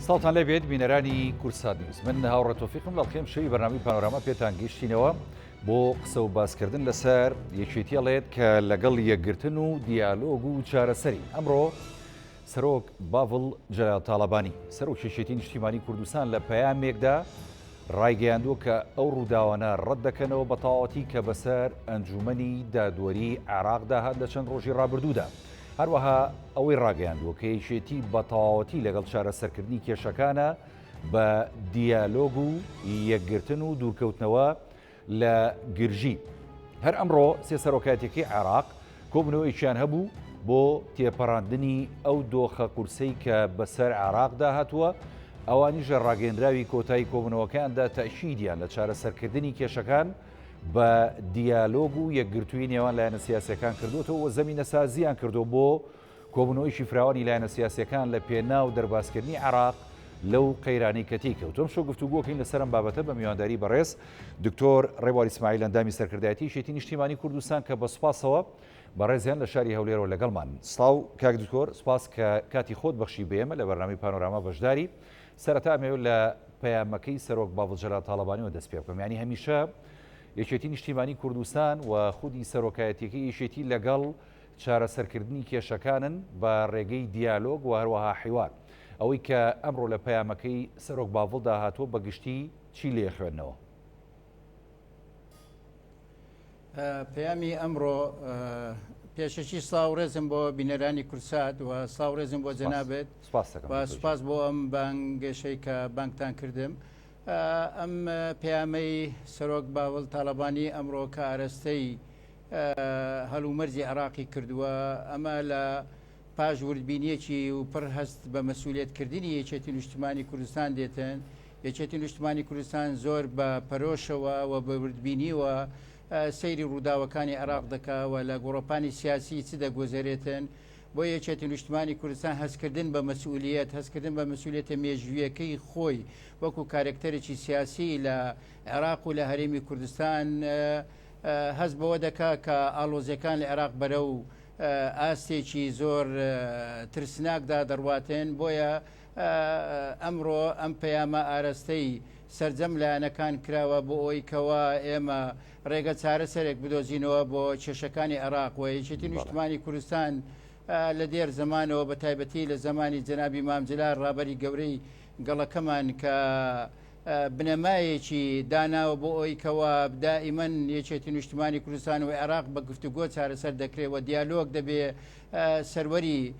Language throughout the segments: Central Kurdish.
ساڵتان لێ بێت بینەرانی کورسات نیوز من هاوڕە تۆفیقم لە خێم شەوی بەنامی پانۆراما پێتان گەیشتینەوە بۆ قسە و باسکردن لەسەر یەکێتیڵێت کە لەگەڵ یەکگرتن و دیالۆگ و چارەسەری ئەمڕۆ سەرۆک باڤڵ جەلال تاالبانی سەرۆک شێشێتی نیشتیمانی کوردستان لە پەیامێکدا ڕایگەیاندووە کە ئەو ڕووداوانە ڕەت دەکەنەوە بە تەواوەتی کە بەسەر ئەنجومنی دادوەری عێراقدا هات لە چەند ڕۆژی ڕابردوودا هەروەها ئەوەی ڕاگەیاندووە کە یەکێتی بە تەواوەتی لەگەڵ چارەسەرکردنی کێشەکانە بە دیالۆگ و یەکگرتن و دوورکەوتنەوە لە گرژی. هەر ئەمڕۆ سێ سەرۆکایەتیەکەی عێراق کۆبنەوەیەکیان هەبوو بۆ تێپەڕاندنی ئەو دۆخە قورسەی کە بەسەر عێراقدا هاتووە، ئەوانیش لە ڕاگەیەندراوی کۆتایی کۆبنەوەکەیاندا تەئکیدیان لە چارەسەرکردنی کێشەکان بە دیالۆگ و یەکگرتووی نێوان لایەنە سیاسەکان کردوەوە و زەمینە سازیان کردو بۆ کۆبنەوەیشی فراوانی لایەنە سیاسەکان لە پێنا و دەربازکردنی عراق لەو قەیرانی کەتی کەوت تۆم شۆ گفتوگۆکەین لەسەرم بابەتە بە میوانداری بەڕێز دکتۆر ڕێبواری سمایل ئەندامی سەرکردایەتی شێتی نیشتیمانی کوردستان کە بە سوپاسەوە بەڕێزیان لە شاری هەولێرەوە لەگەڵمان سلااو کاک دکتۆر سپاس کە کاتی خۆت بەخشی بێمە لە بەرنامی پانۆراما بەشداری سەرەتا ئەمەوێت لە پەیامەکەی سەرۆک باڤڵ جەلال تاڵەبانیەوە دەست پێبکەم یانی هەمیشە یەکێتی نیشتیمانی کوردستان و خودی سەرۆکایەتیەکەی یەکێتی لەگەڵ چارەسەرکردنی کێشەکانن بە ڕێگەی دیالۆگ و هەروەها حیوار ئەوەی کە ئەمڕۆ لە پەیامەکەی سەرۆک باڤڵدا هاتووە بە گشتی چی لێ خوێندنەوە پەیامی ئەمڕۆ پێشەکی ساوڕێزم بۆ بینەرانی کورسات و ساوڕێزم بۆ جەنابێت سپاس بۆ ئەم بانگێشەی کە بانکتان کردم ئەم پەیامەی سەرۆک باوەل تاالبانی ئەمڕۆ کە ئارەستەی هەلومەرجی عراقی کردووە ئەمە لە پاش وردبینیەکی و پڕ هەست بە مەسوولێتکردنی یەکێتی نیشتمانی کوردستان دێتن یەکێتی نیشتمانی کوردستان زۆر بە پەرۆشەوە و بە وردبینیەوە سەیری ڕووداوەکانی عێراق دەکا و لە گۆڕەپانی سیاسی چ دەگوزەرێتن بۆ یەکێتی نیشتمانی کوردستان هەستکردن بە مەسئولیت هەستکردن بە مسئولێتە مێژویەکەی خۆی وەکو کارکتەرێکی سیاسی لە عێراق و لە هەرێمی کوردستان هەست بەوە دەکا کە ئالۆزیەکان لە عێراق بەرە و ئاستێکی زۆر ترسناکدا دەڕواتێن بۆیە ئەمڕۆ ئەم پەیامە ئارەستەی سەرجەم لایەنەکان کراوە بۆ ئەوەی کەوا ئێمە ڕێگە چارەسەرێک بدۆزینەوە بۆ کێشەکانی عێراق و یەکێتی نیشتمانی کوردستان لە دێر زمانەوە بە تایبەتی لە زمانی جەنابی مامجللا ڕابەری گەورەی گەڵەکەمان کە بنەمایەکی داناوە بۆ ئەوی کەوا دائیمەن یەکێتی نیشتمانی کوردستان و عێراق بە گفتوگۆ چارەسەر دەکرێت و دیالۆک دەبێ سەروەری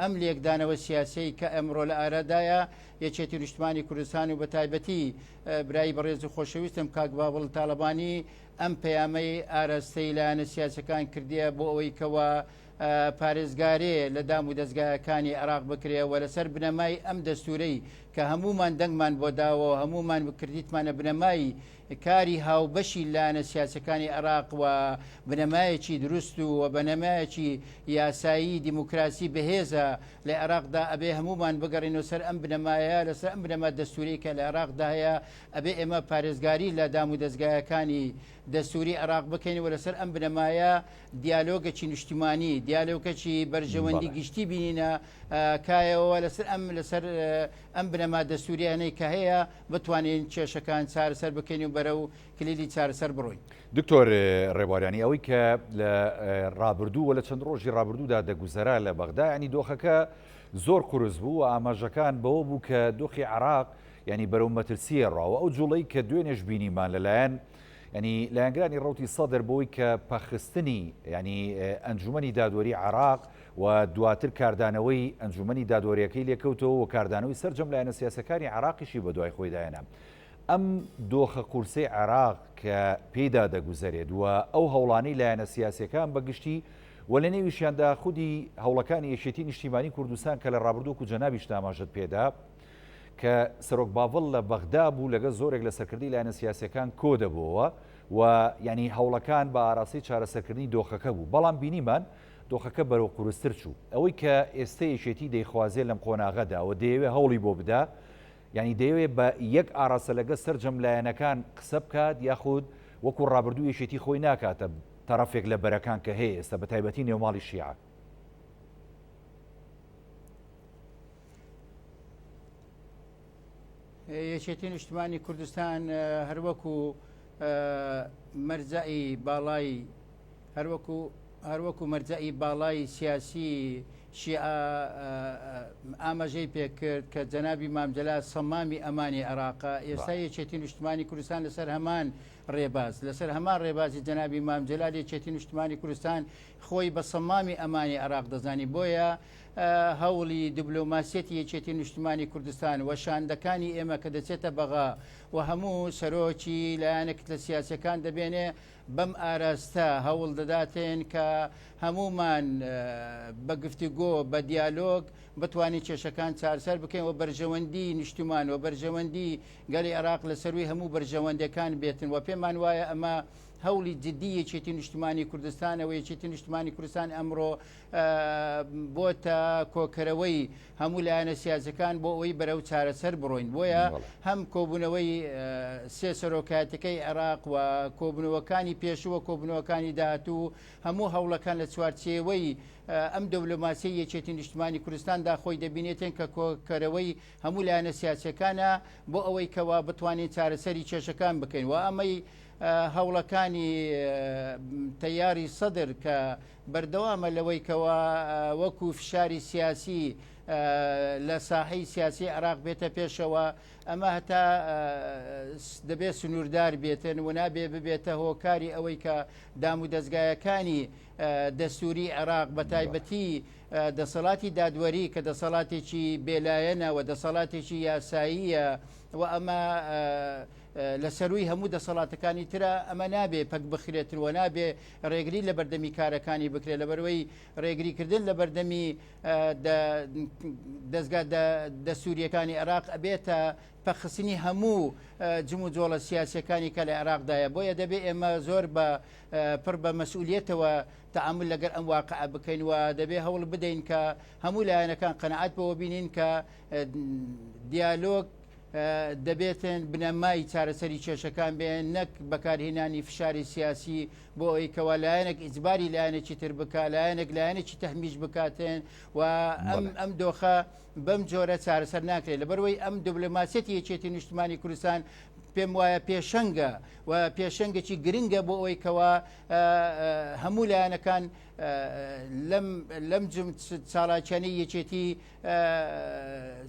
ئەم لێکدانەوە سیاسیەی کە ئەمڕۆ لە ئارادایە یەکێتی نیشتمانی کوردستان و بە تایبەتی برای بەڕێز و خۆشەویستم کاک باوەڵ تاالبانی ئەم پەیامەی ئاراستەی لایەنە سیاسەکان کردیە بۆ ئەوەی کەوە پارێزگارێ لە دام و دەستگایەکانی عراق بکرێەوە لەسەر بنەمای ئەم دەستورەی کە هەمومان دەنگمان بۆ داوە هەمومان بکردیتمانە بنەمای کاری هاوبەشی لایەنە سیاسەکانی عێراق و بنەمایەکی دروست و و بەنەمایەکی یاسایی دیموکراسی بەهێزە لە عێراقدا ئەبێ هەمومان بگەڕینەوە سەر ئەم بنەمایە لەسەر ئەم بنەما دەستوری کە لە عێراقدا هەیە ئەبێ ئێمە پارێزگاری لە دام و دەستگایەکانی دەستوری عێراق بکەین و لەسەر ئەم بنەمایە دیالۆگەکی نیشتیمانی دیالۆکەکی بەرژەوەندی گشتی بینینە کایەوە لەسەر ئەم لەسەر ئەم بنەما دەستوورییانەی کە هەیە بتوانین کێشەکان چارەسەر بکەین و بەرەو کلیلی چارەسەر بڕۆین. دکتۆر ڕێبواریانی، ئەوەی کە لە ڕابردوو و لە چەند ڕۆژی ڕابردوودا دەگوزەرا لە بەغدا یانی دۆخەکە زۆر قورس بوو و ئاماژەکان بەوە بوو کە دۆخی عێراق یانی بەرەو مەترسییە ڕاوە ئەو جوڵەی کە دوێنێش بینیمان لەلایەن ینی لایەنگرانی ڕوتی سەدر بۆی کە پەخستنی ینی ئەنجومی دادوەری عراق و دواتر کاردانەوەی ئەنجومەنی دادوەریەکەی لێکەوتەوە و کاردانەوەی سەرجەم لایەنە سیاسەکانی عێراقیشی بەدوای خۆیدا هێنا. ئەم دۆخە قورسەی عێراق کە پێیدا دەگوزەرێت و ئەو هەوڵانەی لایەنە سیاسیەکان بەگشتی و لە نێویشیاندا خودی هەوڵەکانی یەکێتی نیشتیمانی کوردستان کە لە ڕابردووک و جەنابیش تاماژەت پێدا کە سەرۆک باڤڵ لە بەغدا بوو لەگە زۆرێک لە سەرکردی لایەنە سیاسەکان کۆدەبەوە و یعنی هەوڵەکان بە ئاراسی چارەسەرکردنی دۆخەکە بوو بەڵام بینیمان دۆخەکە بەرەو قورستر چوو. ئەوەی کە ئێستە یەکێتی دەیخوازێ لەم قۆناغەدا و دەیەوێ هەوڵی بۆ بدا، یانی دەیەوێ بە یەک ئاراستە لەگەڵ سەرجەم لایەنەکان قسە بکات یاخود وەکو ڕابردوو یەکێتی خۆی ناکاتە تەرەفێک لە بەرەکان کە هەیە ئێستە بەتایبەتی نێوماڵی شیعە. یەکێتی نیشتمانی کوردستان هەروەکو مەرجعی باڵای هەروەکو هەروەکو مەرجعی باڵای سیاسی شیعە ئاماژەی پێکرد کە جەنابی مامجللا سەمامی ئەمانی عێراقا ئێستا یەکێتی نیشتمانی کوردستان لەسەر هەمان ڕێباز لەسەر هەمان ڕێبازی جەنابی مامجللا یەکێتی نیشتمانی کوردستان خۆی بە سەمامی ئەمانی عێراق دەزانی بۆیە هەوڵی دبلۆماسیەتی یەکێتی نیشتمانی کوردستان و شاندەکانی ئێمە کە دەچێتە بەغا و هەموو سەرۆکی لایەنە کتلە سیاسەکان دەبێنێ بەم ئاراستە هەوڵ دەداتێن کە هەمومان بە گفتوگۆ بە دیالۆگ بتوانین کێشەکان چارسەر بکەین و بەرژەوەندی نیشتمان و بەرژەوەندی گەلی عراق لە سەروی هەموو بەرژەوەندەکان بێتن و پێمان وایە ئەمە هەوڵی جددی یەکێتی نیشتمانی کوردستانەوە یەکێتی نیشتمانی کوردستان ئەمڕۆ بۆتە کۆکەرەوەی هەموو لایەنە سیاسەکان بۆ ئەوەی بەرەو چارەسەر بڕۆین بۆیە هەم کۆبوونەوەی سێ سەرۆکاتەکەی عێراق و کۆبنەوەکانی پێشووە کۆبنەوەکانی داهاتوو هەموو هەوڵەکان لە چوارچێوەی ئەم دەولۆماسی یەکێتی نیشتمانی کوردستاندا خۆی دەبینێتێن کە کۆکەرەوەی هەموو لایەنە سیاسەکانە بۆ ئەوەی کەوا بتوانین چارەسەری کێشەکان بکەین و ئەمەی هەوڵەکانی تەیاری سەدر کە بەردەوامە لەوەی کەوا وەکو فشاری سیاسی لە ساحەی سیاسی عراق بێتە پێشەوە ئەمە هەتا دەبێت سنووردار بێتن و نابێ ببێتە هۆکاری ئەوەی کە دام و دەستگایەکانی دەستوری عێراق بە تایبەتی دەسەڵاتی دادوەری کە دەسەڵاتێکی بێلایەنە و دەسەڵاتێکی یاساییە و ئەمە لە سەروی هەموو دەسەڵاتەکانی ترە ئەمە نابێ پەک بخرێتن و نابێ رێگری لە بەردەمی کارەکانی بکرێت لەبەرەوەی رێگریکردن لە بەردەمی دەستگا دەسووریەکانی عراق ئەبێتە پەخستنی هەموو جم و جۆڵە سیاسەکانی کە لە عێراقدایە بۆیە دەبێت ئێمە زۆر بە پڕ بە مەسئولەتەوە تعامل لەگەر ئەم واقع بکەین و دەبێت هەوڵ بدەین کە هەموو لایەنەکان قەنەعات بەوە بینین کە دیالۆگ دەبێتن بنەمای چارەسەری کێشەکان بێن نەک بەکارهێنانی فشاری سیاسی بۆ ئەوی کەوا لایەنێک ئیجباری لایەنێکی تر بکە لایەنێک لایەنێکی تەحمیش بکاتێن و ئەم ئەم دۆخە بەم جۆرە چارەسەر ناکرێت لەبەروەی ئەم دبلوماسیەتی یەکێتی نیشتمانی کوردستان پێم وایە پێشەنگە و پێشەنگەی گرنگە بۆ ئەوی کەوا هەموو لایەنەکان لەم لەم چاڵاکیانی یەکێتی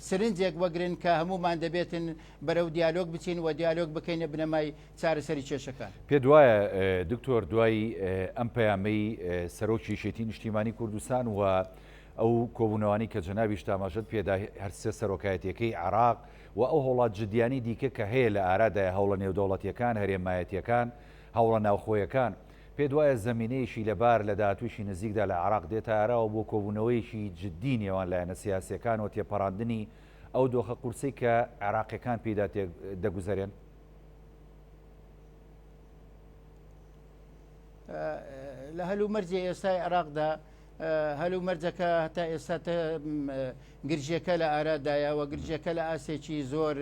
سرنجێک وەگرن کە هەمومان دەبێتن بەرەو دیالۆگ بچین و دیالۆگ بکەینە بنەمای چارەسەری کێشەکان. پێت وایە دکتۆر دوای ئەم پەیامەی سەرۆکی یەکێتی نیشتیمانی کوردستان و ئەو کۆبوونەوانی کە جەنابیش تاماژەت پێدا هەرسێ سەرۆکایەتیەکەی عراق و ئەو هەوڵات جددیانی دیکە کە هەیە لە ئارادای هەوڵە نێودەوڵەتیەکان هەرێمایەتیەکان هەوڵە ناوخۆیەکان پێت وایە زەمینەیەکی لەبار لە داهاتوویەکی نزیکدا لە عێراق دێتە ئاراوە بۆ کۆبوونەوەیەکی جددی نێوان لایەنە سیاسییەکان و تێپەڕاندنی ئەو دۆخە قورسەی کە عێراقییەکان پێیدا دەگوزەرێن؟ لە هەلومەرجی ئێستای عێراقدا هەلومەرجەکە هەتا ئێستا گرژەکە لە ئارادایە و گرژەکە لە ئاسێکی زۆر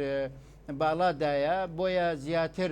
باڵادایە بۆیە زیاتر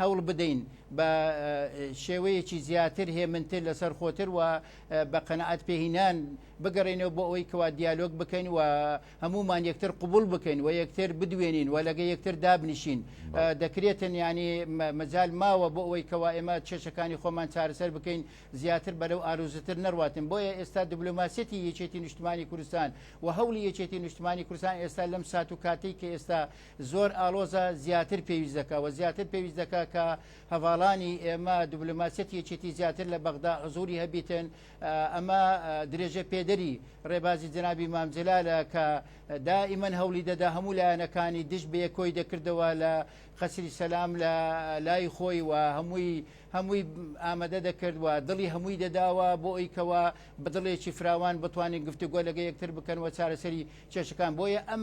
هەوڵ بدەین بە شێوەیەکی زیاتر هێمنتر لەسەر خۆتر و بە قەنەعات پێهینان بگەڕێنەوە بۆ ئەوەی کەوا دیالۆگ بکەین و هەمومان یەکتر قوبول بکەین و یەکتر بدوێنین و لەگە یەکتر دابنیشین دەکرێتن ینی مەجال ماوە بۆ ئەوەی کەوا ئێمە چێشەکانی خۆمان چارەسەر بکەین زیاتر بەرەو ئاروزتر نەڕاتن بۆیە ئێستا دبلوماسیەتی یەکێتی نیشتمانی کوردستان و هەولی یەکێتی نیشتمانی کوردستان ئێستا لەم سات و کاتی کە ئێستا زۆر ئاڵۆزە زیاتر پێویست دەکا و زیاتر پێویست دەکا کە هەڤاڵانی ئێمە دبلوماسیەتی یەکێتی زیاتر لە بەغدا حزوری هەبیتن ئەمە درێژە پێدەری ڕێبازی جنابی مامجلالە کە دائیمەن هەولی دەدا هەموو لایەنەکانی دش بێ کۆی دەکردەوە لە قەسری سەسلام لە لای خۆی و هەمووی هەمووی ئامادە دەکردوە دڵی هەمووی دەداوە بۆ ئەویکەوە بدڵێکی فراوان بتوانین گفتوگۆ لەگە یەکتر بکەن و چارەسەری کێشەکان بۆیە ئەم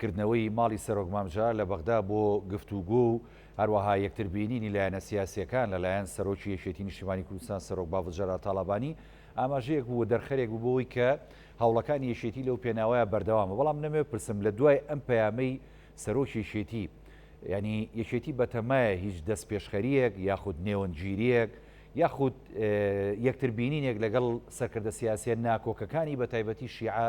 کردنەوەی ماڵی سەرۆک مامجا لە بەغدا بۆ گفتوگۆ و هەروەها یەکتر بینینی لایەنە سیاسییەکان لە لایەن سەرۆکی یەکێتی نیشتیمانی کوردستان سەرۆک باڤڵ جەلال تاڵابانی ئاماژەیەک بوو و دەرخەرێک بوو بەوەی کە هەوڵەکانی یەکێتی لەو پێناوەیە بەردەوامە بەڵام نەمەوێ بپرسم لە دوای ئەم پەیامەی سەرۆکی یەکێتی یعنی یەکێتی بەتەمایە هیچ دەستپێشخەریەک یاخود نێوەندگیریەک یاخود یەکتر بینینێک لەگەڵ سەرکردە سیاسیە ناکۆکەکانی بە تایبەتی شیعە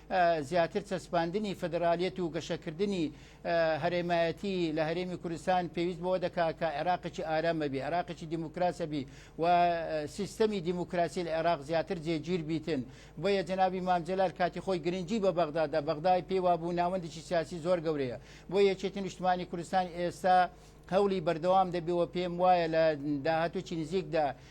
زیاتر چەسپاندنی فیدرالیەت و گەشەکردنی هەرێمایەتی لە هەرێمی کوردستان پێویست بەوە دەکا کە عێراقی ئارامە بی عراقی دیموکراسە بی و سیستەمی دیموکراسی لە عێراق زیاتر جێگیر بیتن بۆیە جنابی مامجلال کاتی خۆی گرنگجی بە بەغدادا بەغدای پێوا بوو ناوەندێکی سیاسی زۆر گەورەیە بۆ یەکێتی نیشتمانی کوردستان ئێستا هەوڵی بەردەوام دەبیەوە پێم وایە لە داهاتوچی نزیکدا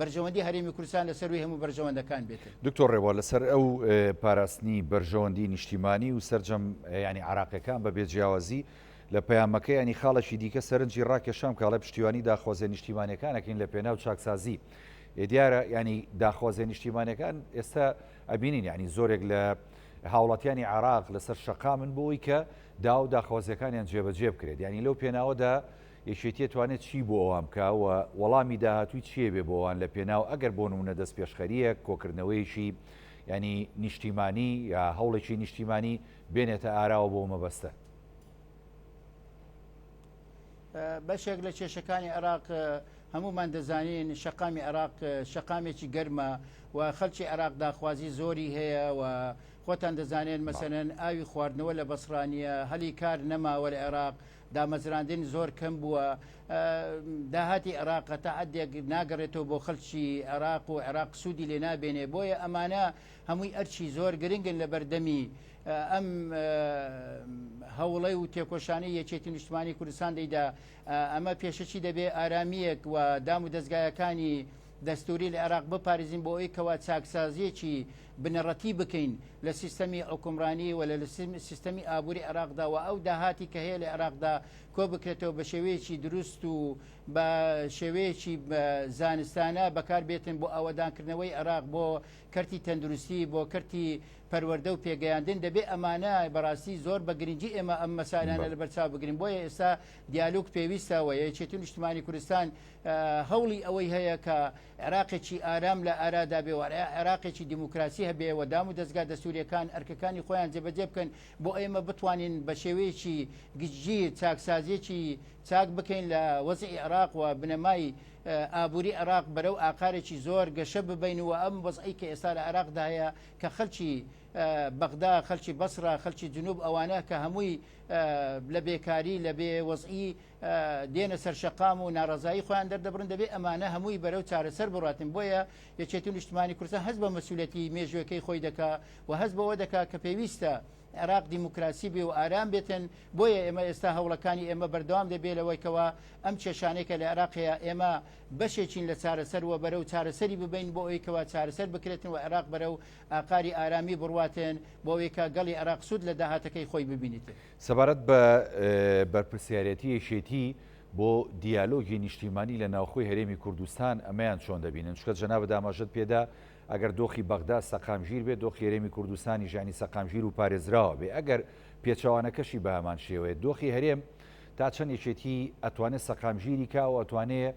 بەرژەوەندی هەرێمی کوردستان لە سەرووی هەموو بەرژەوەندەکان بێت. دکتۆر رێبوار لەسەر ئەو پاراستنی بەرژەوەندی نیشتیمانی و سەرجەم یانی عراقیەکان بە بێ جیاوازی لە پەیامەکەیانی خاڵێکی دیکە سەرنجی راکێشام کاڵێ پشتیوانی داخوازیە نیشتیمانەکانەکەین لە پێناو چاکسازی دیارە ینی داخوازیە نیشتیمانەکان ئێستا ئەبینین ینی زۆرێک لە هاوڵاتیانی عراق لەسەر شقامن بۆی کە داو داخوازیەکانیان جێبەجێ بکرێت ینی لەو پێناوەدا یەکێتیە توانێت چی بۆ ئەوان بکا و وەڵامی داهاتووی چیە بێ بۆ ئەوان لە پێناو ئەگەر بۆ نمونە دەست پێشخەریەک کۆکردنەوەیەکی یانی نیشتیمانی یا هەوڵێکی نیشتیمانی بێنێتە ئاراوە بۆ مەبەستە. بەشێک لە کێشەکانی عێراق هەمومان دەزانین شەقامی عێراق شەقامێکی گەرمە و خەلکی عێراق داخوازی زۆری هەیە و خۆتان دەزانێن مەسەنەن ئاوی خواردنەوە لە بەسرانیە هەلی کار نەماوە لە عێراق دامەزراندن زۆر کەم بووە داهاتی عێراق تا عدێک ناگەڕێتەوە بۆ خەلکی عێراق و عێراق سوودی لێ نابێنێ بۆیە ئەمانە هەمووی ئەرچی زۆر گرنگن لە بەردەمی ئەم هەوڵی و تێکۆشانی یەکێتی نیشتمانی کوردستان دەیدا ئەمە پێشەکی دەبێ ئارامیەک و دام و دەستگایەکانی دەستوری لە عێراق بپارێزین بۆ ئەوی کەوا چاکسازیەکی بنەڕەتی بکەین لە سیستەمی حکومڕانی و لە سیستەمی ئابووری عێراقدا و ئەو داهاتی کە هەیە لە عێراقدا کۆ بکرێتەوە بە شێوەیەکی دروست و بە شێوەیەکی زانستانە بەکار بێتن بۆ ئەوەدانکردنەوەی عێراق بۆ کەرتی تەندروستی بۆ کەرتی پەروەەردە و پێگەیاندن دەبێ ئەمانە بەڕاستی زۆر بە گرنگجی ئێمە ئەم مەسالانە لە بەرچاو بگرین بۆیە ئێستا دیالوگ پێویستەوە یەکێتی نیشتمانی کوردستان هەوڵی ئەوەی هەیە کە عێراقێکی ئارام لە ئارادا بێ و عێراقێکی دیموکراسی هەبێ و دام و دەزگا دەستوریەکان ئەرکەکانی خۆیان جێبەجێ بکەن بۆ ئێمە بتوانین بە شێوەیەکی گشتگیر چاکسازیەکی چاک بکەین لە وەزعی عێراق و بنەمای ئابووری عێراق بەرەو ئاقارێکی زۆر گەشە ببین و ئەم وەزعی کە ئێستا لە عێراقدا هەیە کە خەلکی بەغدا خەلکی بەسرا خەلکی جنوب ئەوانە کە هەمووی لە بێکاری لە بێ وەزعی دێنە سەر شەقام و ناڕزایی خۆیان دەردەبرن دەبێت ئەمانە هەمووی بەرەو چارەسەر بڕاتن بۆیە یەکێتی و نیشتمانی کورسە هەز بە مەسولەتی مێژوەکەی خۆی دەکا و هەز بەوە دەکا کە پێویستە عێراق دیموکراسی بێ و ئارام بێتن بۆیە ئێمە ئێستا هەوڵەکانی ئێمە بەردەوام دەبێت لەوەیکەوە ئەم کێشانێکە لە عێراقەیە ئێمە بەشێکین لە چارەسەر و بەرە و چارەسەری ببین بۆ ئەویکەوە چارەسەر بکرێتن و عێراق بەرە و ئاقاری ئارامی بڕاتێن بۆەوەیکە گەڵی عێراق سوود لە داهاتەکەی خۆی ببینێتن. سەبارەت بە بەرپرسیارێتی یەکێتی بۆ دیالۆگی نیشتیمانی لە ناوخۆی هەرێمی کوردستان ئەمەیان چۆن دەبینن چکە جەنابە داماژەت پێدا ئەگەر دۆخی بەغدا سەقامگیر بێت دۆخی هەرێمی کوردستانی ژانی سەقامگیر و پارێزراوە بێ ئەگەر پێچەوانەکەشی بە هەمان شێوەیە دۆخی هەرێم تا چەند یەکێتی ئەتوانێت سەقامگیری کاوە ئەتوانێت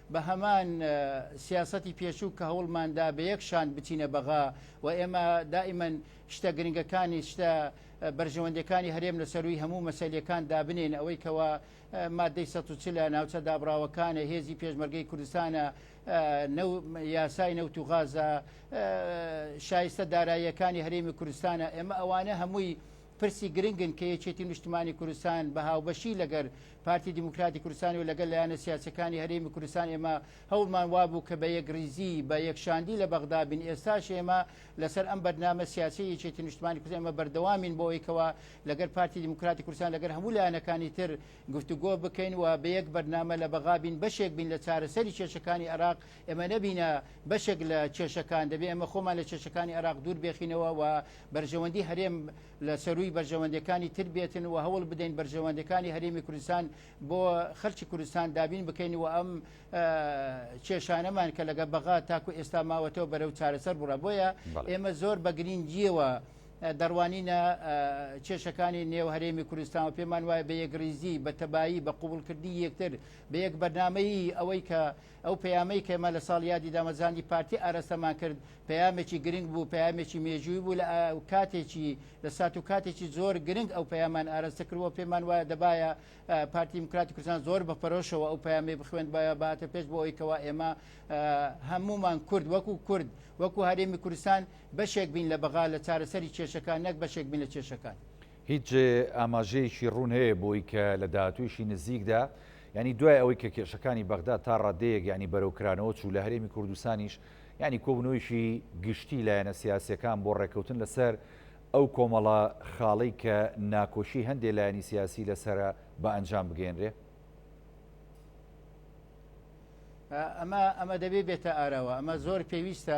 بە هەمان سیاسەتی پێشوو کە هەوڵماندا بە یەک شان بچینە بەغا و ئێمە دائیمەن شتە گرنگەکانی شتە بەرژەوەندەکانی هەرێم لە سەروی هەموو مەسلیەکان دابنین ئەوەی کەەوە مادەی سە لە ناوچە دابراوەکانە هێزی پێشمەرگەی کوردستانە یاسای نەوت و غازە شایستە داراییەکانی هەرێمی کوردستانە ئێمە ئەوانە هەمووی پرسی گرنگن کە یەکێتی نیشتمانی کوردستان بە هاوبەشی لەگەر پارتی دیموکراتی کوردستانی و لەگەل لایەنە سیاسەکانی هەرێمی کوردستان ئێمە هەوڵمان وابوو کە بە یەکریزی بە یەکشاندی لە بەغدا بین ئێستاش ئێمە لەسەر ئەم بەرنامە سیاسی یەکێتی نیشتمانی کوردستان ئێمە بەردەوامین بۆ ئەوەی کەوا لەگەر پارتی دیموکراتی کوردستان لەگەر هەموو لایەنەکانی تر گفتوگۆ بکەین و بە یەک بەرنامە لە بەغا بین بەشێک بین لە چارەسەری کێشەکانی عێراق ئەمە نەبینە بەشێک لە کێشەکان دەبێ ئەمە خۆمان لە کێشەکانی عراق دوور بێخینەوە و بەرژەوەندی هەرێم لە سەروی بەرژەوەندەکانی تر بێتن و هەوڵ بدەین بەرژەوەندەکانی هەرێمی کوردستان بۆ خەرچی کوردستان دابین بکەین و ئەم کێشانەمان کە لەگە بەغا تاکو ئێستا ماوەتەوە بەرەو چارەسەر بڕە بۆیە ئێمە زۆر بە گرنگیەوە دەڕوانینە کێشەکانی نێو هەرێمی کوردستان و پێمان وایە بە یەکریزی بە تەبایی بە قوبولکردنی یەکتر بە یەک بەرنمەیی ئەوەی کە ئەو پەیامەی کە ئێمە لە ساڵ یادی دامەزراندی پارتی ئارەستەمان کرد پەیامێکی گرنگ بوو پەیامێکی مێژووی بوو لە کاتێکی لە سات و کاتێکی زۆر گرنگ ئەو پەیامان ئارەستە کردوە پێمان وایە دەبایە پارتی دیموکراتی کوردستان زۆر بە پەرۆشەوە ئەو پەیامی بخوێن باە باتە پێش بۆ ئەوی کەوا ئێمە هەمومان کورد وەکو کورد وەکو هەرێمی کوردستان بەشێک بین لە بەغا لە چارەسەری کێشەکان نەک بەشێک بین لە کێشەکان. هیچ ئاماژەیەکی ڕوون هەیە بۆی کە لە داهاتوویشی نزیکدا، یانی دوای ئەوەی کە کێشەکانی بەغداد تا ڕاددەیەک یانی بەرەو کرانەوە چوو، لە هەرێمی کوردستانیش یانی کۆبوونەوەیەکی گشتی لایەنە سیاسییەکان بۆ ڕێککەوتن لەسەر ئەو کۆمەڵە خاڵەی کە ناکۆکی هەندێ لایەنی سیاسی لەسەرە بە ئەنجام بگەیەنرێ؟ ئەمە ئەمە دەبێ بێتە ئاراوە، ئەمە زۆر پێویستە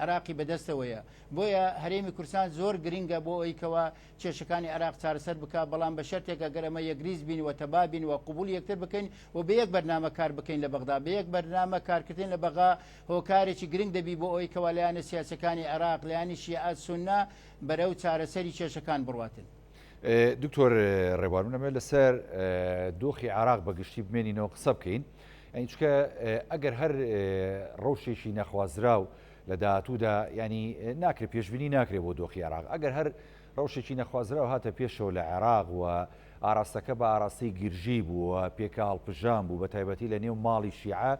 عێراقی بەدەستەوەیە بۆیە هەرێمی کورسان زۆر گرنگە بۆ ئەوی کەوا کێشەکانی عراق چارەسەر بک بەڵام بە شەرتێکە گەرەمە یەکریز بین و تەبا بین و قوبول یەکتر بکەین و بە یەک بەرنامە کار بکەین لە بەغدا بە یەک بەرنامە کارکردن لە بەغا هۆکارێکی گرنگ دەبی بۆ ئەوی کەوا لایەنە سیاسەکانی عراق لایانی شیعات سنە بەرە و چارەسەری کێشەکان بڕاتن. دکتۆر ڕێبوار منەمێ لەسەر دۆخی عراق بە گشتی بمێنینەوە قسە بکەین. یانی چکە ئەگەر هەر ڕەوشێکی نەخوازراو لە داهاتوودا ینی ناکرێت پێشببینی ناکرێت بۆ دۆخی عراق ئەگەر هەر ڕەوشێکی نەخوازراو هاتە پێشەوە لە عێراق و ئاراستەکە بە ئاراستەی گرژی بووە پێکە هەڵپژان بوو بە تایبەتی لە نێو ماڵی شیعە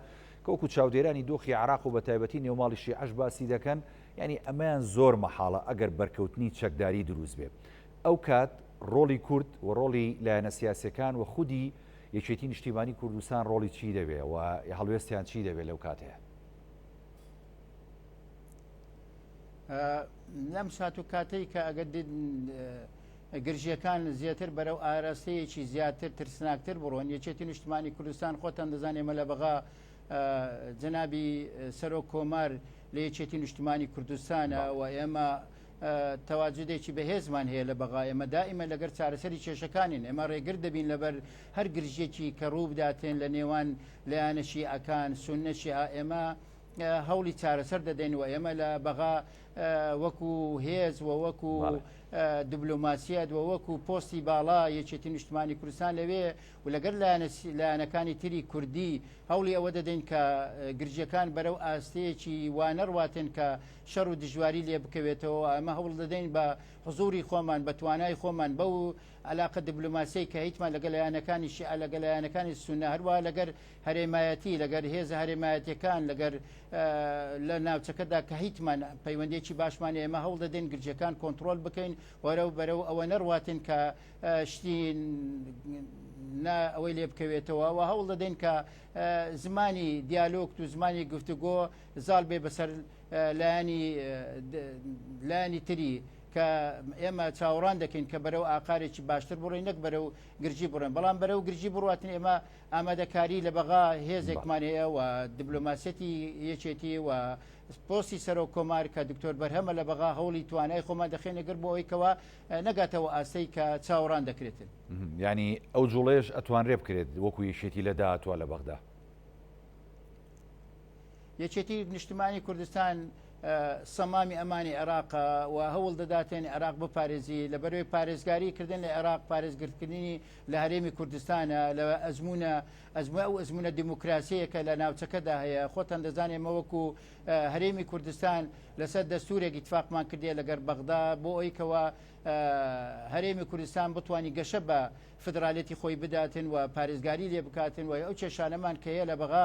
کەوکو چاودێرانی دۆخی عراق و بە تایبەتی نێوماڵی شیعش باسی دەکەن ینی ئەمەیان زۆر مەحاڵە ئەگەر بەرکەوتنی چەکداری دروست بێت ئەو کات ڕۆڵی کورد و ڕۆڵی لایەنە سیاسەکان و خودی یەکێتی نیشتیمانی کوردستان ڕۆڵی چی دەبێ و هەڵوێستیان چی دەبێ لەو کاتەیا؟ لەم سات و کاتەی کە ئەگەر گرژیەکان زیاتر بەرەو ئاراستەیەکی زیاتر ترسناکتر بڕۆن یەکێتی نیشتمانی کوردستان خۆتان دەزانێ مە لە بەغا جەنابی سەرۆک کۆمار لە یەکێتی نیشتمانی کوردستانە و ئێمە تەواجودێکی بەهێزمان هەیە لە بەغا ئێمە دائیمە لەگەر چارەسەری کێشەکانین ئێمە ڕێگر دەبین لەبەر هەر گرژێکی کە ڕوو بداتێن لە نێوان لایەنەشی ئەکان سونەشی ئێمە هەوڵی چارەسەر دەدەین و ئێمە لە بەغا وەکو هێز و وەکو دبلوماسیەت و وەکو پۆستی باڵا یەکێتی نیشتمانی کوردستان لەوێ و لەگەر لایەنەکانی تری کوردی هەوڵی ئەوە دەدەین کە گرژەکان بەرەو ئاستەیەکی وانەڕواتێن کە شەڕ و دژواری لێ بکەوێتەوە ئەمە هەوڵ دەدەین بە حزوری خۆمان بە توانای خۆمان بە و علاقە دبلوماسی کە هیچمان لەگە لایەنەکانی شیع لەگە لایەنەکانی سونە هەروە لەگەر هەرێمایەتی لەگەر هێز هەرێمایەتەکان لەگەر لە ناوچەکەدا کە هیچمان پەیوەندێکی باشمان ئێمە هەوڵ دەدەین گرجەکان کۆنتترۆل بکەین وەرە و بەرە و ئەوە نەڕواتن کە شتی ئەوەی لێ بکەوێتەوە و هەوڵ دەدەین کە زمانی دیالۆکت و زمانی گفتوگۆ زاڵ بێ بەسەر لایەنی لایەنی تری کە ئێمە چاوەڕان دەکەین کە بەرەو ئاقارێکی باشتر بڕی نەک بەرە و گرژی بڕێن بەڵام بەرە و گرژی بڕاتن ئێمە ئامادەکاری لە بەغا هێزێکمان هەیە و دبلۆماسیەتی یەکێتی و پۆسی سەرۆک کۆمار کە دکتۆر بەرهەمە لە بەغا هەوڵی توانای خۆمان دەخێنەگەر بۆ ئەویکەوە نەگاتەوە ئاستەی کە چاوەڕان دەکرێتن ینی ئەو جوڵێش ئەتوانرێ بکرێت وەکو یەکێتی لە داهاتوە لە بەغدا یەکێتی نیشتمانی کوردستان سەمامی ئەمانی عێراق و هەوڵ دەداتێن عێراق بپارێزی لە بەروی پارێزگاری کردن لە عێراق پارێزگرتکردنی لە هەرێمی کوردستانە لە ئەزمونە ئەزمە ئەو ئەزمونە دیموکراسیەکە لە ناوچەکەدا هەیە خۆتان دەزانێت مەوەکو هەرێمی کوردستان لەسەر دەستورێکی تفاقمان کردێ لەگەر بەغدا بۆ ئەویکەوە هەرێمی کوردستان بتانی گەشە بە فدراالێتی خۆی بداتن و پارێزگاری لێ بکاتن و ئەو کێشانەمان کەیە لە بەغا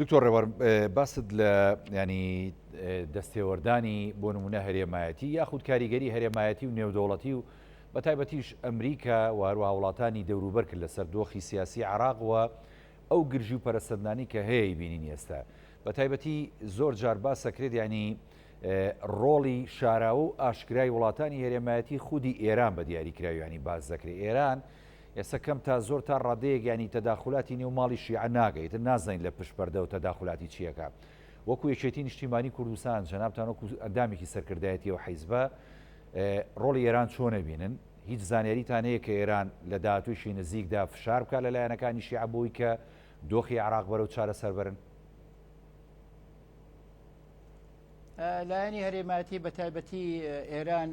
دکتۆر ڕێوار باست لە ینی دەستێوەردانی بۆ نمونە هەرێمایەتی یاخود کاریگەری هەرێمایەتی و نێودەوڵەتی و بە تایبەتیش ئەمریکا و هەروە وڵاتانی دەوروبەر کرد لەسەر دۆخی سیاسی عراقوە ئەو گرژی و پەرسەندانی کە هەیە بینین ئێستا بە تایبەتی زۆر جار باسەکرێت ینی ڕۆڵی شاراوە و ئاشکرای وڵاتانی هەرێمایەتی خودی ئێران بە دیاریکراویانی باز دەکرێت ئێران و ئێستا کەم تا زۆر تا ڕادەیەک یانی تەداخولاتی نێو ماڵی شیعە ناکە ئیتر نازانین لە پشت پەردە و تەداخولاتی چی ئەکا وەکو یەکێتی نیشتیمانی کوردستان جەنابتان وەکو ئەندامێکی سەرکردایەتی ئەو حیزبە ڕۆڵی ئێران چۆن ئەبینن هیچ زانیاریتان هەیە کە ئێران لە داهاتوویشی نزیکدا فشار بکات لە لایەنەکانی شیعە بۆی کە دۆخی عراق بەرەو چارەسەر بەرن لایەنی هەرێماتی بە تایبەتی ئێران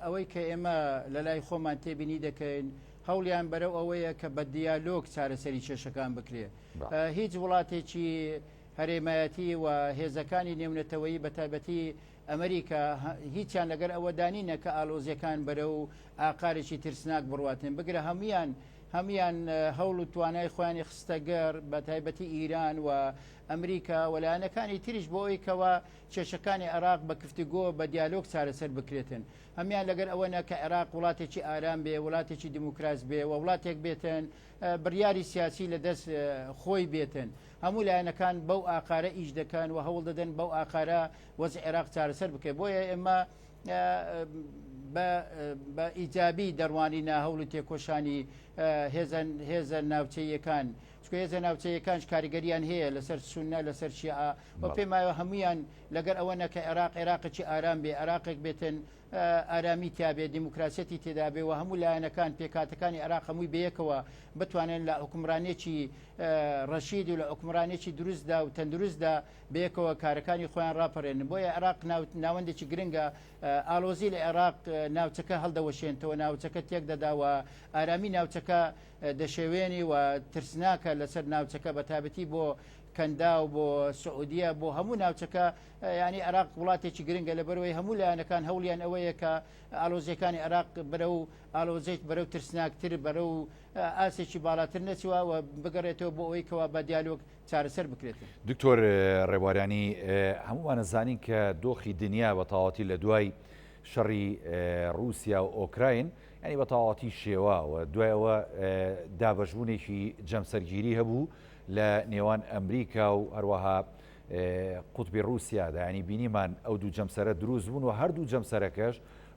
ئەوەی کە ئێمە لە لای خۆمان تێبینی دەکەین هەوڵیان بەرەو ئەوەیە کە بە دیالۆگ چارەسەری کێشەکان بکرێ هیچ وڵاتێکی هەرێمایەتی و هێزەکانی نێونەتەوەیی بە تایبەتی ئەمریکا هیچیان لەگەر ئەوە دانینە کە ئالۆزیەکان بەرە و ئاقارێکی ترسناک بڕاتن بگرە هەموان هەموان هەوڵ و توانای خۆیانی خستەگەر بە تایبەتی ئیران و ئەمریکا و لایەنەکانی تریش بۆ ئەوی کەوا کێشەکانی عێراق بە کفتگۆ بە دیالۆگ چارەسەر بکرێتن هەمیان لەگەر ئەوەنا کە عێراق وڵاتێکی ئارام بێ وڵاتێکی دیموکراس بێ و وڵاتێک بێتن بڕیاری سیاسی لە دەست خۆی بێتن هەموو لایەنەکان بەو ئاقارە ئیش دەکەن و هەوڵ دەدەن بەو ئاقارە وەز عێراق چارەسەر بکەێت بۆیە ئێمە بە ئیجابی دەڕوانینە هەوڵی تێکۆشانی هێزە ناوچەیەکان چونکە هێزە ناوچەیەکانش کاریگەریان هەیە لەسەر سونە لەسەر شیعە و پێمایە هەمویان لەگەر ئەوە نەکە عێراق عێراقی ئارام بێ عراقێک بێتن ئارامی تیاابێ دیموکراسەتی تێدابێ و هەموو لایەنەکان پێکاتەکانی عراق هەمووی بەیەکەوە بتوانن لە حکومرانێکی ڕەشید و لە حکومرانێکی دروستدا و تەندروستدا بەیەکەوە کارەکانی خۆیان راپەرێن بۆیە عراق ناوەندێکی گرنگە ئالۆزی لە عێراق ناوچەکە هەڵدەوەشێنتەوە ناوچەکە تێک دەداوە ئارامی ناوچەکە دەشێوێنی و ترسناکە لەسەر ناوچەکە بە تابەتی بۆ کەنداو بۆ سعودیە بۆ هەموو ناوچەکە ینی عراق وڵاتێکی گرنگە لە بەرەوەی هەموو لایەنەکان هەولیان ئەوەیە کە ئالۆزیەکانی عراق بەرە و ئالۆزێت بەرەو ترسناکتر بەرە و ئاسێکی باڵاتر نەچوە و بگەڕێتەوە بۆ ئەوەی کەوا بە دیالۆک چارەسەر بکرێت دکتۆر ڕێوارانی هەمووانە زانین کە دۆخی دنیا بە تاواتی لە دوای شەڕی رووسیا و ئۆکراین و یانی بە تەواوەتی شێواوە. دوای ئەوە دابەشبوونێکی جەمسەرگیری هەبوو لە نێوان ئەمریکا و هەروەها قوتبی ڕووسیادا، یانی بینیمان ئەو دوو جەمسەرە دروست بوون و هەردوو جەمسەرەکەش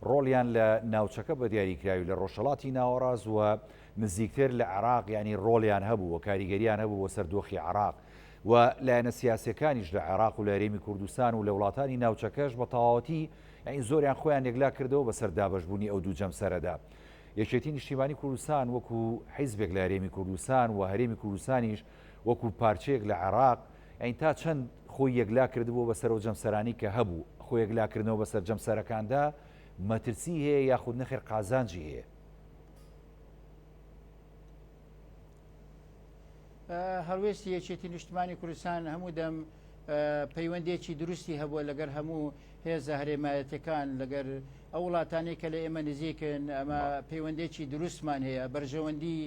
ڕۆڵیان لە ناوچەکە بە دیاریکراوی لە ڕۆژهەڵاتی ناوەڕاست و نزیکتر لە عێراق یانی ڕۆڵیان هەبوو و کاریگەریان هەبوو بۆ سەر دۆخی عێراق و لایەنە سیاسیەکانیش لە عێراق و لە هەرێمی کوردستان و لە وڵاتانی ناوچەکەش بە تەواوەتی یانی زۆریان خۆیان یەکلا کردەوە بەسەر دابەش بوونی ئەو دوو جەمسەرەدا. یەکێتی نیشتیمانی کوردستان وەکو حیزبێک لە هەرێمی کوردستان و هەرێمی کوردستانیش وەکو پارچەیەک لە عێراق یانی تا چەند خۆی یەکلا کردبووە بەسەر ئەو جەمسەرانەی کە هەبوو، خۆ یەکلا کردنەوە بەسەر جەمسەرەکاندا مەترسی هەیە یاخود نەخێر قازانجی هەیە؟ هەڵوێستی یەکێتی نیشتمانی کوردستان هەموو دەم پەیوەندێکی دروستی هەبووە لەگەر هەموو هێزە هەرێمایەتەکان لەگەر ئەو وڵاتانی کە لە ئێمە نزیکن ئەمە پەیوەندێکی دروستمان هەیە بەرژەوەندی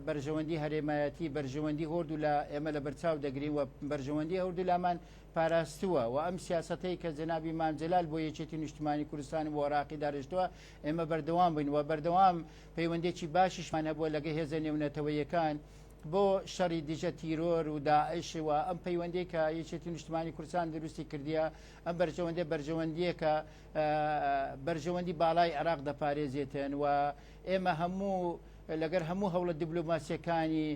بەرژەوەندی هەرێمایەتی بەرژەوەندی هۆردو لە ئێمە لە بەرچاو دەگرین و بەرژەوەندی هەردوو لامان پاراستووە و ئەم سیاستەی کە جنابی مامجلال بۆ یەکێتی نیشتمانی کوردستان و عراقی دارشتووە ئێمە بەردەوام بین و بەردەوام پەیوەندێکی باشیشمان هەبووە لەگە هێزە نێونەتەوەیەکان بۆ شەڕی دژە تیرۆر و داعش و ئەم پەیوەندەی کە یەکێتی نیشتمانی کوردستان دروستی کردیە ئەم بەرژەوەندێ بەرژەوەندیەکە بەرژەوەندی باڵای عێراق دەپارێزێتن و ئێمە هەموو لەگەر هەموو هەوڵە دیبلوماسیەکانی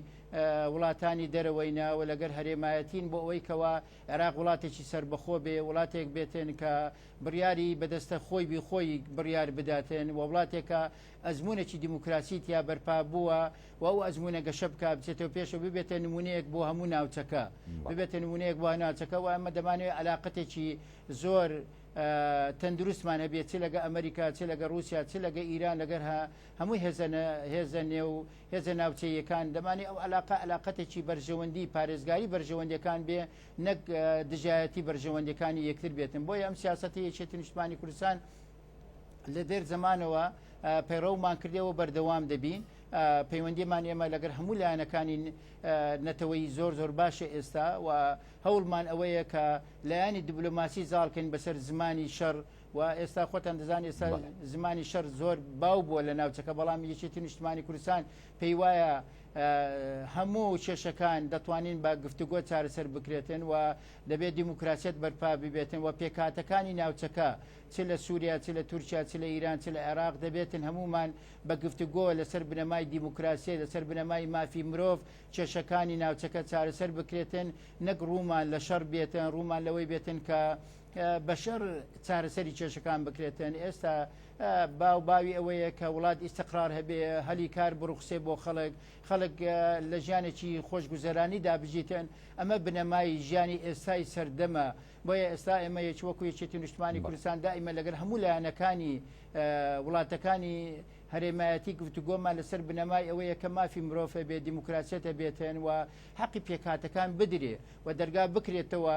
وڵاتانی دەرەوەینە و لەگەر هەرێمایەتین بۆ ئەوەی کەەوە عێراق وڵاتێکی سەربەخۆ بێ، وڵاتێک بێتن کە بڕیاری بە دەستە خۆی بی خۆی بڕیار بداتن و وڵاتێک کە ئەزموونێکی دیموکراسی تیا بەرپا بووە و ئەو ئەزموونە گەشە بکا بچێتەوە پێشەوە ببێتە نموونەیەک بۆ هەموو ناوچەکە ببێتە نموونەیەک بۆ ناوچەکە و ئەمە دەمانەوێت عەلاقەتێکی زۆر تەندروستمان هەبێت چ لەگە ئەمریکا چ لەگە رووسیا چ لەگە ئیران لەگەر هەموو هێزە هێزە نێو هێزە ناوچەییەکان، دەمانی ئەو عەلاقە عەلاقەتێکی بەرژەوەندی پارێزگاری بەرژەوەندیەکان بێ نەک دژایەتی بەرژەوەندیەکانی یەکتر بێتن بۆیە ئەم سیاسەتی یەکێتی نیشتمانی کوردستان لە دێر زمانەوە پەیڕەومان کردەوە بەردەوام دەبین پەیوەندیمان ئێمە لەگەر هەموو لایەنەکانی نەتەوەی زۆر زۆر باشە ئێستا و هەوڵمان ئەوەیە کە لایانی دیبلۆماسی زاڵکەین بەسەر زمانی شەڕ و ئێستا خۆتان دەزان ئێستا زمانی شەر زۆر باو بووە لە ناوچەکە بەڵام یەکێتی نیشتمانی کوردستان پێی وایە هەموو کێشەکان دەتوانین بە گفتوگۆ چارەسەر بکرێتن و دەبێت دیموکراسیت بەرپا ببێتن و پێکاتەکانی ناوچەکە چ لە سووریا چ لە تورکیا چ لە ئیران چ لە عێراق دەبێتن هەمومان بە گفتوگۆ لەسەر بنەمای دیموکراسی لەسەر بنەمای مافی مرۆڤ کێشەکانی ناوچەکە چارەسەر بکرێتن نەک ڕوومان لە شەڕ بێتن ڕوومان لەوەی بێتن کە بەشەر چارەسەری کێشەکان بکرێتن ئێستا باو باوی ئەوەیە کە وڵات ئیسقرار هەبێ هەلی کار بڕوخسێ بۆ خەڵک خەڵک لە ژیانێکی خۆشگوزەرانی دابژیتن ئەمە بنەمای ژیانی ئێستای سەردەمە بۆیە ئێستا ئێمە یەکی وەکو یەکێتی نیشتمانی کوردستان دائیمە لەگەر هەموو لایەنەکانی وڵاتەکانی هەرێمایەتی گفتوگۆمان لەسەر بنەمای ئەوەیە کە مافی مرۆڤە بێ دیموکراسیەتە بێتن و حەقی پێکاتەکان بدرێ و دەرگا بکرێتەوە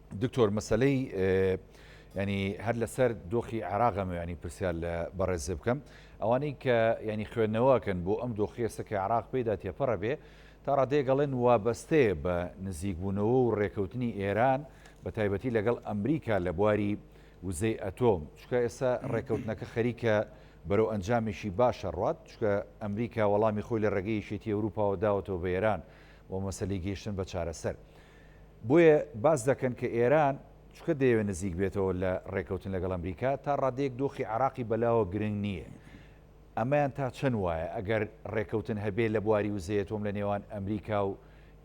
دکتۆر مەسەلەی ینی هەر لەسەر دۆخی عراقە میانی پرسیار لە بەڕێزێ بکەم ئەوانەی کە ینی خوێندنەوەکەن بۆ ئەم دۆخیێسە کە عراق پێدا تێپەڕە بێ تا ڕادێگەڵێن وابەستەیە بە نزیکبوونەوە و ڕێکەوتنی ئێران بە تایبەتی لەگەڵ ئەمریکا لە بواری وزەی ئەتۆم چکە ئێستا ڕێکەوتنەکە خەریکە بەرەو ئەنجامێکی باشە ڕات چکە ئەمریکا وەڵامی خۆی لە ڕێگەیشێتی ئەوروپاوە داوەتەوە بە ئێران و مەسلی گەیشتن بە چارەسەر. بۆیە باس دەکەن کە ئێران چونکە دەیەوێت نزیک بێتەوە لە ڕێکەوتن لەگەڵ ئەمریکا، تا ڕادەیەک دۆخی عێراقی بەلاوە گرنگ نییە. ئەمەیان تا چەند وایە؟ ئەگەر ڕێکەوتن هەبێت لە بواری وزەی ئەتۆم لە نێوان ئەمریکا و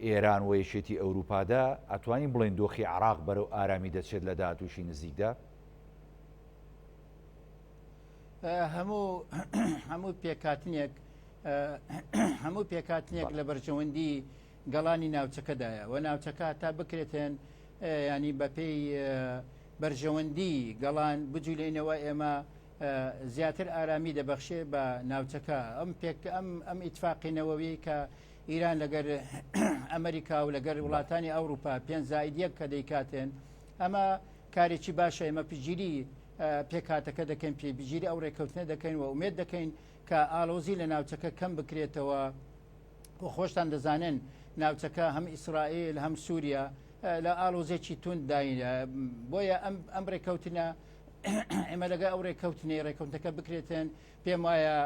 ئێران و یەکێتی ئەوروپادا، ئەتوانین بڵێین دۆخی عێراق بەرەو ئارامی دەچێت لە داهاتوویی نزیکدا؟ هەموو هەموو پێکاتنێک هەموو پێکاتنێک لە بەرژەوەندی گەڵانی ناوچەکەدایە و ناوچەکە هەتا بکرێتێن یانی بە پێی بەرژەوەندی گەڵان بجولێنەوە ئێمە زیاتر ئارامی دەبەخشێ بە ناوچەکە ئەم پێک ئەم ئەم ئیتفاقینەوەوی کە ئیران لەگەر ئەمریکا و لەگەر وڵاتانی ئەوروپا پێنج زائیدیەک کە دەیکاتێن ئەمە کارێکی باشە ئمە پگیری پێکاتەکە دەکەین پێبگیری ئەو ڕێککەوتنە دەکەین و ئومێت دەکەین کە ئالۆزی لە ناوچەکە کەم بکرێتەوە و خۆشتان دەزانن ناوچەکە هەم ئیسرائیل هەم سووریا لە ئالۆزێکی تون داینە بۆیە ئەم ڕێککەوتنە ئێمە لەگە ئەو ڕێککەوتنی ڕێککەوتەکە بکرێتن پێم وایە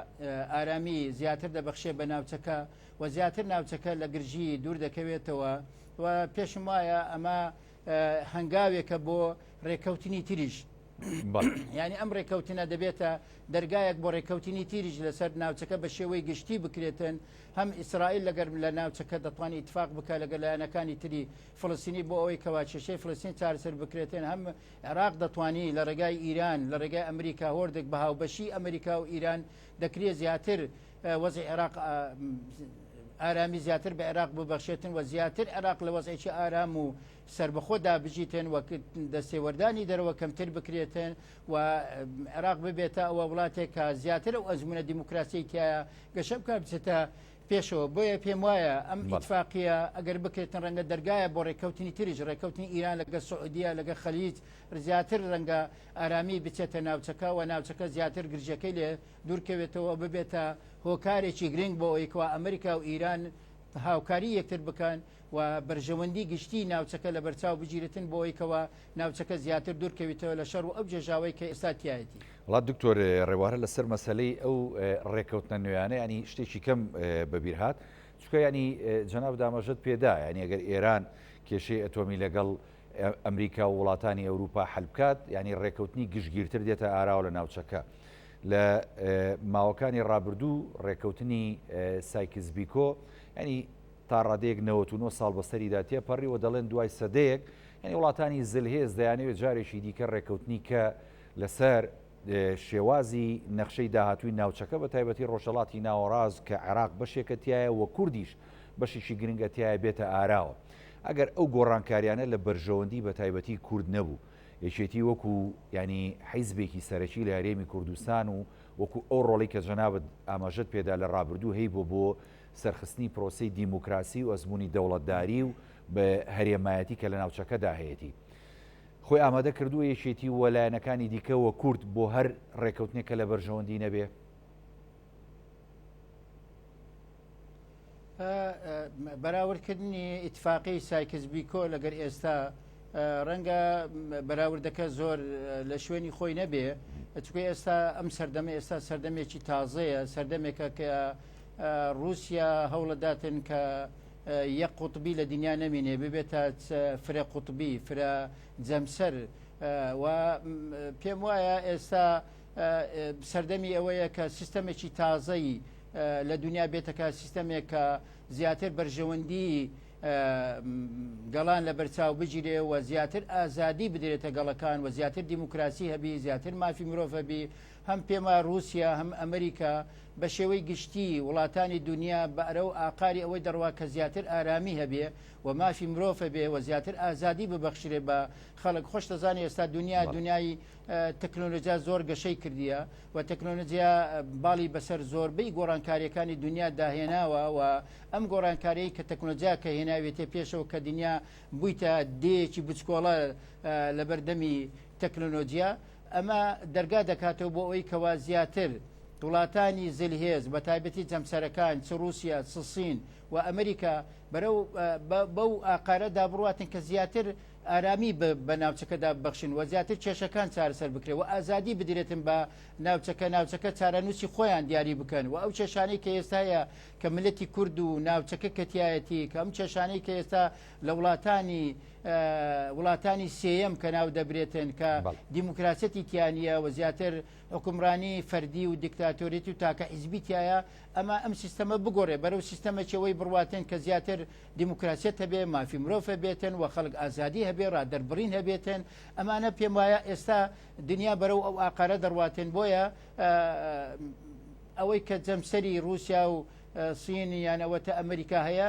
ئارامی زیاتر دەبخشێ بە ناوچەکە و زیاتر ناوچەکە لە گرژی دوور دەکەوێتەوە و پێشم وایە ئەمە هەنگاوێکە بۆ ڕێککەوتنی تریش یانی ئەم ڕێککەوتنە دەبێتە دەرگایەک بۆ ڕێککەوتنی تیریش لەسەر ناوچەکە بە شێوەی گشتی بکرێتن هەم ئیسرائیل لەگەرم لە ناوچەکە دەتوانانی اتفاق بکە لەگە لایەنەکانی تری فلسینی بۆ ئەوەی کەواچەشەی فلسین چارسەر بکرێتن هەم عێراق دەتوانی لە ڕێگای ئیران لە ڕێگای ئەمریکا هۆردێک بە هاوبەشی ئەمریکا و ئیران دەکرێت زیاتر وەزی عێراق ئارامی زیاتر بە عێراق ببەخشێتن و زیاتر عێراق لە وەزێکی ئارام و سەربەخۆ دابژیتێن و دەستێوەردانی دەرەوە کەمتر بکرێتن و عێراق ببێتە ئەوە وڵاتێک کە زیاتر و ئەزمونە دیموکراسی تایە گەشە بکە بچێتە پێشەوە بۆیە پێم وایە ئەم ئیتفاقیە ئەگەر بکرێتن ڕەنگە دەرگایە بۆ ڕێککەوتنی تریش ڕێککەوتنی ئیران لەگە سعودیە لەگە خەلیج زیاتر ڕەنگە ئارامی بچێتە ناوچەکە و ناوچەکە زیاتر گرژەکەی لێ دوورکەوێتەوە ببێتە هۆکارێکی گرنگ بۆ ئەوەیکەوە ئەمریکا و ئیران هاوکاری یەکتر بکەن و بەرژەوەندی گشتیی ناوچەکە لەبەرچاو بگیرێتن بۆ ئەوەی کەوا ناوچەکە زیاتر دوور کەویتەوە لە شەڕ و ئەو گێژاوەی کە ئێستا تیایەتی. وڵا دکتۆر ڕێوارە لەسەر مەسەلەی ئەو ڕێکەوتنە نوێیانە یانی شتێکی کەم بەبیر هات چکە ینی جەناب دامەژت پێدا ینی ئەگەر ئێران کێشەی ئەتۆمی لەگەڵ ئەمریکا و وڵاتانی ئەوروپا حلبکات ینی ڕێکەوتنی گشتگیرتر دێتە ئاراوە لە ناوچەکە لە ماوەکانی ڕابردوو ڕێکەوتنی سایکس بیکۆ ینی تا ڕادەیەک نەوەت و نۆ ساڵ بەسەریدا تێپەڕی و دەڵێن دوای سەدەیەک یانی وڵاتانی زلهێز دەیانەوێت جارێکی دیکە ڕێککەوتنی کە لەسەر شێوازی نەخشەی داهاتووی ناوچەکە بە تایبەتی ڕۆژەڵاتی ناوەڕاز کە عێراق بەشێکە تایە وە کوردیش بەشێکی گرنگە تایە بێتە ئاراوە ئەگەر ئەو گۆڕانکاریانە لە بەرژەوەندی بە تایبەتی کورد نەبوو یەکێتی وەکو ینی حیزبێکی سەرەکی لە هەرێمی کوردستان و وەکو ئەو ڕۆڵی کە جەنابەت ئاماژەت پێدا لە ڕابردوو هەی بۆ بۆ سەرخستنی پرۆسەی دیموکراسی و ئەزموونی دەوڵەتداری و هەرێمایەتی کە لە ناوچەکەدا هەیەتی خۆی ئامادە کردووە یەکێتی و لایەنەکانی دیکە وە کورد بۆ هەر ڕێکەوتنێک کە لە بەرژەوەندی نەبێ بەراوردکردنی ئیتفاقی سایکس بیکۆ لەگەر ئێستا ڕەنگە بەراوردەکە زۆر لە شوێنی خۆی نەبێ چکە ئێستا ئەم سەردەمە ئێستا سەردەمێکی تازەیە سەردەمێکە کە ڕووسیا هەوڵەداتن کە یەک قوتبی لە دنیا نەمینێ ببێتە فرە قوتبی فرە جەمسەر و پێم وایە ئێستا سەردەمی ئەوەیە کە سیستەمێکی تازەی لە دنیا بێتەکە سیستەمێک کە زیاتر بەرژەوەندی گەڵان لە بەرچاو بگیرێ و زیاتر ئازادی بدرێتە گەڵەکان و زیاتر دیموکراسی هەبی زیاتر مافی مرۆڤەبی هەم پێما روسیا هەم ئەمریکا بە شێوەی گشتی وڵاتانی دونیا بەرەو ئاقاری ئەوەی دەڕوا کە زیاتر ئارامی هەبێ و مافی مرۆڤ هەبێ و زیاتر ئازادی ببەخشرێ بە خەڵک خۆش دەزانێ ئێستا دنیا بەڵێ. دنیای تەکنۆلۆجیا زۆر گەشەی کردیە و تەکنۆلۆجیا باڵی بەسەر زۆربەی گۆڕانکاریەکانی دنیا داهێناوە و ئەم گۆڕانکاریی کە تەکنۆلۆجیا کە هێناوێتێ پێشەوە کە دنیا بوویتە دێیەکی بچکۆڵە لەبەردەمی تەکنۆلۆجیا ئەمە دەرگا دەکاتەوە بۆ ئەوەی کەوا زیاتر وڵاتانی زلهێز بە تایبەتی جەمسەرەکان چ رووسیا چ سین و ئەمریکا بەرەو بەو ئاقارەدا بڕاتن کە زیاتر ئارامی بە ناوچەکەدا بەخشن و زیاتر کێشەکان چارەسەر بکرێت و ئازادی بدرێتن بە ناوچەکە ناوچەکە چارەنووسی خۆیان دیاری بکەن و ئەو کێشانەی کە ئێستاە کە ملەتی کورد و ناوچەکە کەتیایەتی کە ئەم کێشانەی کە ئێستا لە وڵاتانی وڵاتانی سێەم کە ناو دەبرێتن کە دیموکراسەتی تیانە و زیاتر حکومڕانی فەردی و دیکتاتۆریت و تاکە حیزبیتایە ئەمە ئەم سیستەمە بگۆڕێ بەرە و سیستەمەکەەوەی بڕاتن کە زیاتر دیموکراسیت هەبێ مافی مرۆڤە بێتن و خەڵک ئازادی هەبێ ڕ دەربڕین هەبێتن ئەمانە پێم وایە ئێستا دنیا بەرە و ئەو ئاقارە دەڕاتن بۆیە ئەوەی کە جەمسەری رووسیا و سینی یانەوەتە ئەمریکا هەیە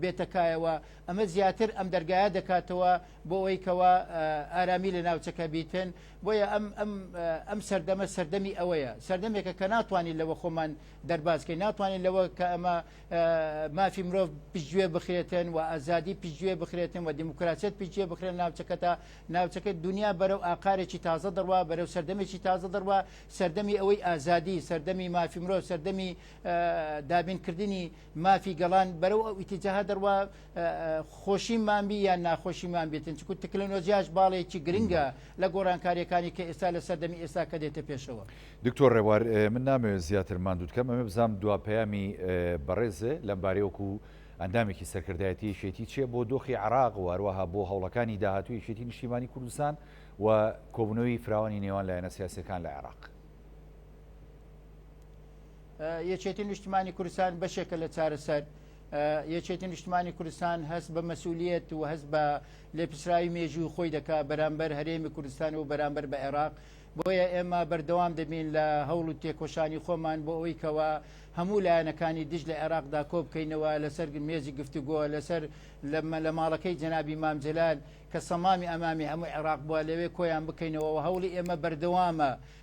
بێتە کایەوە ئەمە زیاتر ئەم دەرگایە دەکاتەوە بۆ ئەوەی کەوا ئارامی لە ناوچەکە بیتن بۆیە ئەم ئەم ئەم سەردەمە سەردەمی ئەوەیە سەردەمێکە کە ناتوانین لەوە خۆمان دەربازکەین ناتوانین لەوە کە ئەمە مافی مرۆڤ پشتگوێ بخرێتن و ئازادی پشتگوێ بخرێتن و دیموکراسیت پشتگوێ بخرێن ناوچەکە تا ناوچەکە دنیا بەرەو ئاقارێکی تازە دەڕوا بەرەو سەردەمێکی تازە دەڕوا سەردەمی ئەوەی ئازادی سەردەمی مافی مرۆڤ سەردەمی دابینکردنی مافی گەڵان بەرەو ئەو ئیتیجاهە دەڕوا خۆشیمان بی یان ناخۆشیمان بێتن چکو تەکنەلۆژیاش باڵێکی گرنگە لە گۆڕانکاریەکانی کە ئێستا لە سەردەمی ئێستا کە دێتە پێشەوە. دکتۆر ڕێبوار من نامەوێت زیاتر ماندووت کەم ئەمە بزانم دوا پەیامی بەڕێزێ لەم بارەی وەکو ئەندامێکی سەرکردایەتی یەکێتی چیە بۆ دۆخی عراق و هەروەها بۆ هەوڵەکانی داهاتوو یەکێتی نیشتیمانی کوردستان و کۆبنەوەی فراوانی نێوان لایەنە سیاسەکان لە عێراق. یەکێتی نیشتمانی کوردستان بەشێکە لە چارەسەر یەکێتی نیشتمانی کوردستان هەست بە مەسوولیت و هەست بە لێپسراوی مێژوو خۆی دەکا بەرامبەر هەرێمی کوردستان و بەرامبەر بە عێراق بۆیە ئێمە بەردەوام دەبین لە هەوڵ و تێکۆشانی خۆمان بۆ ئەوی کەەوە هەموو لایەنەکانی دژ لە عێراقدا کۆ بکەینەوە لەسەر مێزی گفتوگۆ لەسەر لەمە لە ماڵەکەی جەنابی مامجلال کە سەمامی ئەمامی هەموو عێراق بووە لەوێ کۆیان بکەینەوە هەوڵی ئێمە بەردەوامە